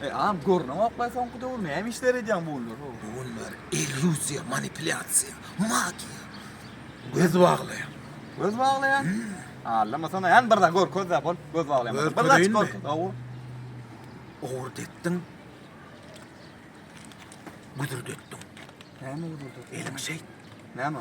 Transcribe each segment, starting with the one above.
E am görneňok baý soňky döwür näme işler edýäň bu günler ho. Bu günler illýuziýa, manipulýasiýa, magiýa. Göz baglaýan. Göz baglaýan? Allama sana ýan birde gör közde bol göz baglaýan. Gör, Birde aç göreyinmi? gör. Ow. Owurt etdiň. Güdürdetdiň. Näme gurdu? Eliň şeýt. Näme?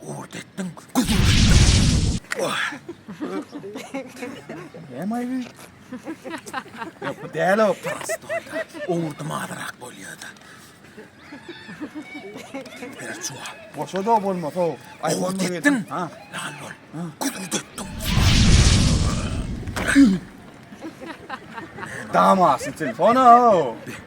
Ugurt etdiň, gözüňi açdyň. Oh. Näme aýby? Ýok, bu däl o. Prostoýda. Ugurdym azyrak bolýar-da. Ber çuwa. Boşa da bolmasa o. Ugurt etdiň. Ha. Lal bol. Gözüňi dötdüň. Damasy telefona o.